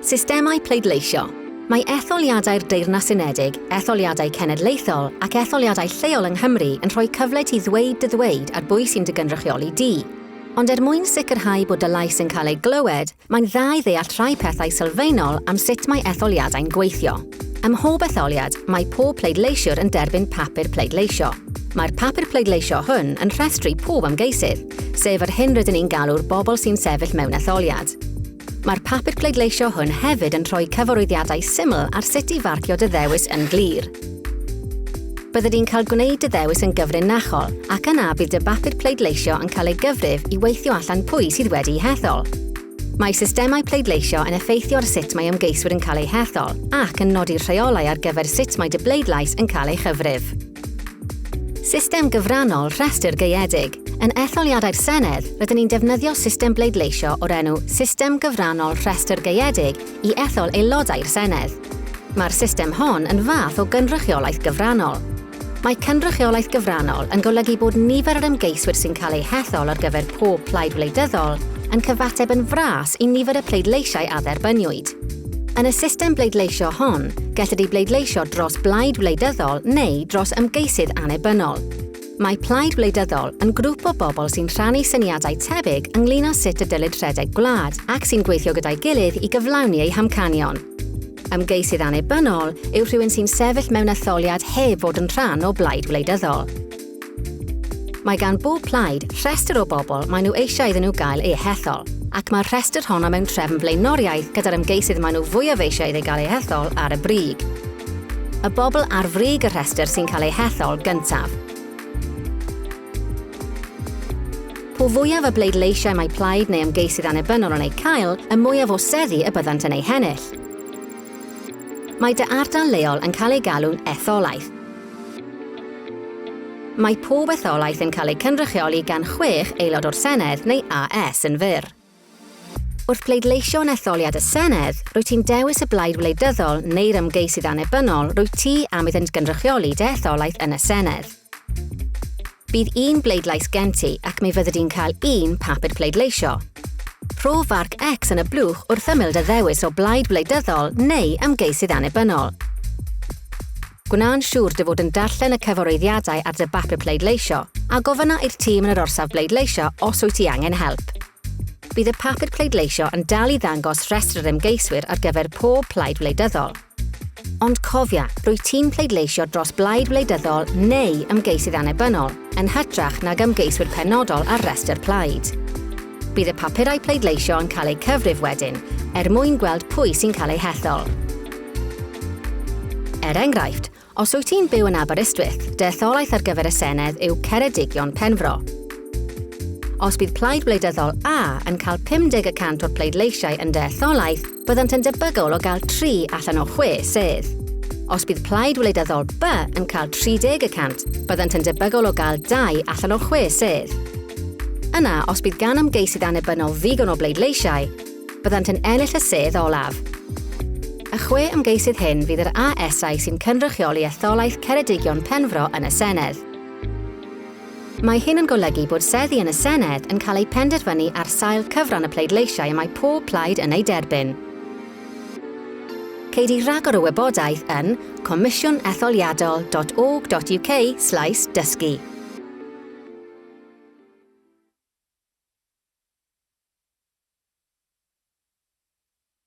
Systemau pleidleisio. Mae etholiadau'r Deyrnas Unedig, etholiadau cenedlaethol ac etholiadau lleol yng Nghymru yn rhoi cyfle ti ddweud dy ddweud ar bwy sy'n dy gynrychioli di. Ond er mwyn sicrhau bod dy lais yn cael ei glywed, mae'n dda i ddeall rhai pethau sylfaenol am sut mae etholiadau'n gweithio. Ym mhob etholiad, mae pob pleidleisiwr yn derbyn papur pleidleisio. Mae'r papur pleidleisio hwn yn rhestru pob ymgeisydd, sef yr hyn rydyn ni'n galw'r bobl sy'n sefyll mewn etholiad. Mae'r papur pleidleisio hwn hefyd yn rhoi cyfarwyddiadau syml ar sut i farcio dy ddewis yn glir. Bydde di'n cael gwneud dy ddewis yn gyfrinachol ac yna bydd dy bapur pleidleisio yn cael ei gyfrif i weithio allan pwy sydd wedi'i hethol. Mae systemau pleidleisio yn effeithio ar sut mae ymgeiswyr yn cael eu hethol ac yn nodi'r rheolau ar gyfer sut mae dy bleidlais yn cael ei chyfrif. System gyfrannol rhestr gaeedig. Yn etholiadau'r Senedd, rydyn ni'n defnyddio system bleidleisio o'r enw System Gyfrannol Rhestr Gaeedig i ethol aelodau'r Senedd. Mae'r system hon yn fath o gynrychiolaeth gyfrannol. Mae cynrychiolaeth gyfrannol yn golygu bod nifer yr ymgeiswyr sy'n cael eu hethol ar gyfer pob plaid wleidyddol yn cyfateb yn fras i nifer y pleidleisiau a dderbyniwyd. Yn y system bleidleisio hon, gellid ei bleidleisio dros blaid wleidyddol neu dros ymgeisydd annibynnol. Mae plaid wleidyddol yn grŵp o bobl sy'n rhannu syniadau tebyg ynglyn â sut y dylid rhedeg gwlad ac sy'n gweithio gyda'i gilydd i gyflawni eu hamcanion. Ymgeisydd annibynnol yw rhywun sy'n sefyll mewn etholiad heb fod yn rhan o blaid wleidyddol. Mae gan bob plaid rhestr o bobl maen nhw eisiau iddyn nhw gael eu hethol, ac mae'r rhestr honno mewn trefn blaenoriaeth gyda'r ymgeisydd maen nhw fwyaf eisiau iddi gael ei hethol ar y brig. Y bobl ar frig y rhestr sy'n cael eu hethol gyntaf. Po fwyaf y bleidleisiau mae plaid neu ymgeisydd annibynnol yn eu cael, y mwyaf o seddi y byddant yn eu hennill. Mae dy ardal leol yn cael ei galw'n etholaeth, Mae pob etholaeth yn cael ei cynrychioli gan chwech Aelod o'r Senedd neu AS yn fyr. Wrth bleidleisio yn etholiad y Senedd, rwyt ti'n dewis y blaid wleidyddol neu'r ymgeisydd annibynnol rwyt ti am iddynt gynrychioli dy etholaeth yn y Senedd. Bydd un bleidlais gen ti ac mi fyddi di'n cael un papur pleidleisio. Rho farc X yn y blwch wrth ymyl dy ddewis o blaid wleidyddol neu ymgeisydd annibynnol. Gwna'n siŵr dy fod yn darllen y cyfarwyddiadau ar dy bapur pleidleisio, a gofynna i'r tîm yn yr orsaf bleidleisio os wyt ti angen help. Bydd y papur pleidleisio yn dal i ddangos rhestr yr ymgeiswyr ar gyfer pob plaid wleidyddol. Ond cofia, rwyt ti'n pleidleisio dros blaid wleidyddol neu ymgeisydd annibynnol, yn hytrach nag ymgeiswyr penodol ar restr plaid. Bydd y papurau pleidleisio yn cael eu cyfrif wedyn, er mwyn gweld pwy sy'n cael eu hethol. Er enghraifft, os wyt ti'n byw yn Aberystwyth, dy etholaeth ar gyfer y Senedd yw Ceredigion Penfro. Os bydd plaid wleidyddol A yn cael 50 y cant o'r pleidleisiau yn dy etholaeth, byddant yn debygol o gael 3 allan o 6 sedd. Os bydd Plaid Wleidyddol B yn cael 30 y cant, byddant yn debygol o gael 2 allan o 6 sedd. Yna, os bydd gan ymgeisydd annibynnol ddigon o bleidleisiau, byddant yn ennill y sedd olaf. Y chwe ymgeisydd hyn fydd yr ASau sy'n cynrychioli etholaeth Ceredigion Penfro yn y Senedd. Mae hyn yn golygu bod seddi yn y Senedd yn cael eu penderfynu ar sail cyfran y pleidleisiau y mae pob plaid yn eu derbyn. Ceid i ragor o wybodaeth yn comisiwnetholiadol.org.uk slaes dysgu.